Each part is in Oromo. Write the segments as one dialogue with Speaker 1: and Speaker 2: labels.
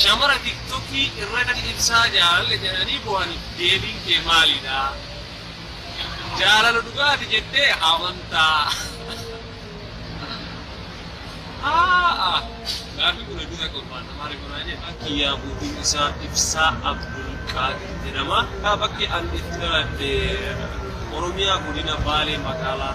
Speaker 1: Shamara tiktoki irra gadi dhibsaa jaalalle jedhanii bohani deebiin kee maalidha? Jaalala dhugaati jettee amantaa? Aa'a gaafii kun hedduu takka ulfaata maali kunaa jee kan kiyyaa buutiin isaa ibsaa abdul qaadir jedhama kaa bakki an itti dhaladhe oromiyaa godina baalee magaalaa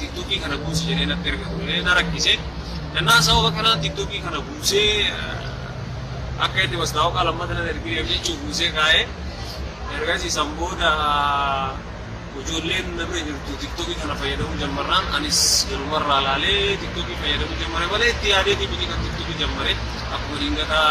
Speaker 1: tiktokii kana buusi jedhee natti erga turee na rakkise. Jennaan sababa kanaan tiktokii kana buusee akka inni mastaawaqaa lammata nan ergineef jechuun buusee kaa'ee ergasii san booda ijoolleen na bira jirtu tiktokii kana fayyadamuu jammarraan anis galumarraa laalee tiktokii fayyadamuu jammare malee itti yaadeetii miti kan tiktokii jammare akkuma dingataa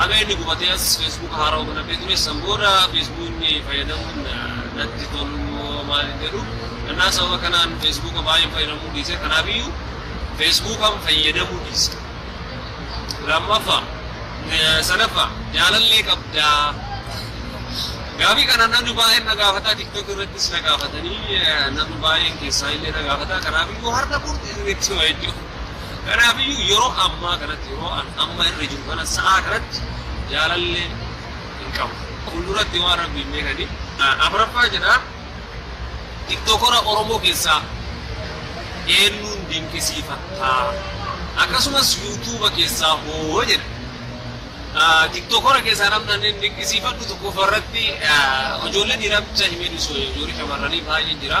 Speaker 1: Haga inni gubatee as Facebook haarawa banadhee ture. San booda Facebookni fayyadamuun natti tolumoo maal hin jedhu. Kanaaf sababa kanaan Facebook baay'een fayyadamuu dhiise. Kanaafiyyuu Facebookan fayyadamuu dhiise. Lammaffaa, sadaffaa jaalallee qabdaa? Gaafii kana namni baay'een na gaafata. TikTok irrattis na gaafatanii namni baay'een keessaa illee na gaafata. Kanaafiyyuu har'a murteessee jechuudha. Kanaafiyyuu yeroo ammaa kanatti, yeroo an amma irra jiru kana, sa'aa kanatti jaalallee hin qabu. Fuulduratti waan Rabbiin beekaniif. Afraffaa jedha, Tiktokora Oromoo keessaa eennuun dinqisiifatta? Akkasumas Yuutuuba keessaa hoo? jedha. Tiktokora keessaa namni an dinqisiifadhu tokkoffaa irratti ijoollee dhiiraa bicha himee dhiisu ijoollee shamarranii baay'een jira.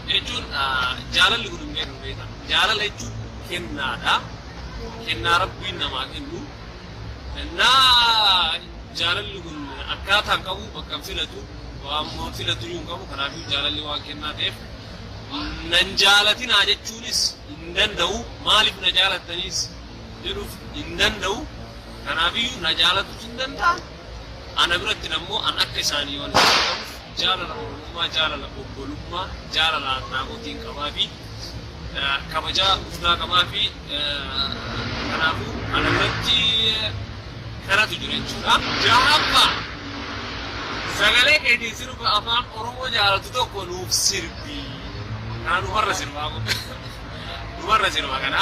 Speaker 1: jechuun jaalalli kun hin beekamu beekta. Jaalala jechuun kennaadha. Kennaa Rabbiin namaa kennu. Kennaa jaalalli kun akkaataa hin qabu bakka hin filatu waan moon filatu iyyuu hin qabu kanaafuu jaalalli waan kennaa ta'eef nan jaalatinaa jechuunis hin danda'u maaliif na jaalattaniis jedhuuf hin danda'u kanaafiyyuu na jaalatuus hin danda'a Ana birattin ammoo an akka isaanii yoon isaan ta'uuf jaalala Oromummaa, jaalala obbolummaa, jaalala Adnaamotiin qabaafi, kabaja guddaa qabaafi. Kanaafuu ana biratti kanatu jira jechuudha. 6ffaa, Sagalee keetiin sirba Afaan Oromoo jaalatu tokko nuuf sirbi. Kana dhumarra sirbaa kun. Dhumarra sirba kana.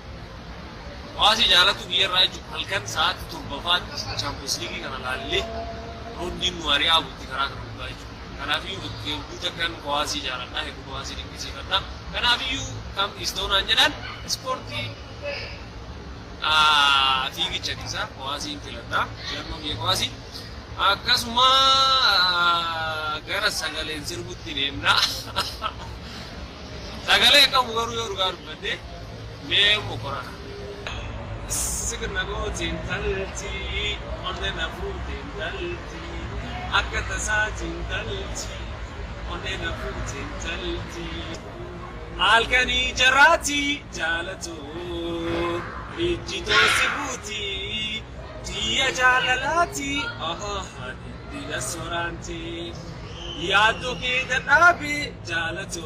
Speaker 1: Hawaasni jaalattu biyya irraa jechuun halkan sa'aatti torbafaatti Chaampiyoons Liigii kana laallee roondiin nu ari'aa bulti karaa kana dhugaa jechuudha. Kanaafiyyuu hedduu takkan hawaasii jaaladha, hedduu hawaasii dinqisiifadha. Kanaafiyyuu kam istoonaan jedhan ispoortii fiigicha keessaa hawaasiin filadha. Filannoo biyya hawaasii. Akkasuma gara sagaleen sirbutti deemna. Sagalee qabu garuu yoo dhugaa dubbannee. Mee moqora sik na gooti intalti onne na fuute intalti akka tasaati intalti onne na fuute intalti alkani jaraati jaalatu ijji too si buuti diiya jaalalaati ahaha diddila soraanti yaaddo kee dadhaabe jaalatu.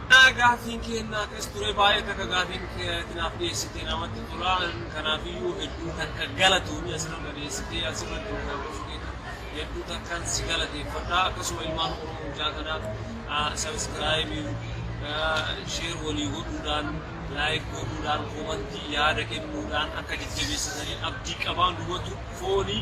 Speaker 1: Yaa gaaffiin keennaa akkas ture baay'ee takka gaaffiin kee ati naaf dhiyeessite namatti tola kanaafiyyuu hedduu takka galatoomi asirra na dhiyeessitee asirratti na daawwachuu keetiif hedduu takkaan si galateeffadha akkasuma ilmaan oromoo hundaa kana sabiskiraayibii sheer walii godhuudhaan laayik godhuudhaan koomantii yaada kennuudhaan akka jajjabeessitaniin abdii qabaa numatu foonii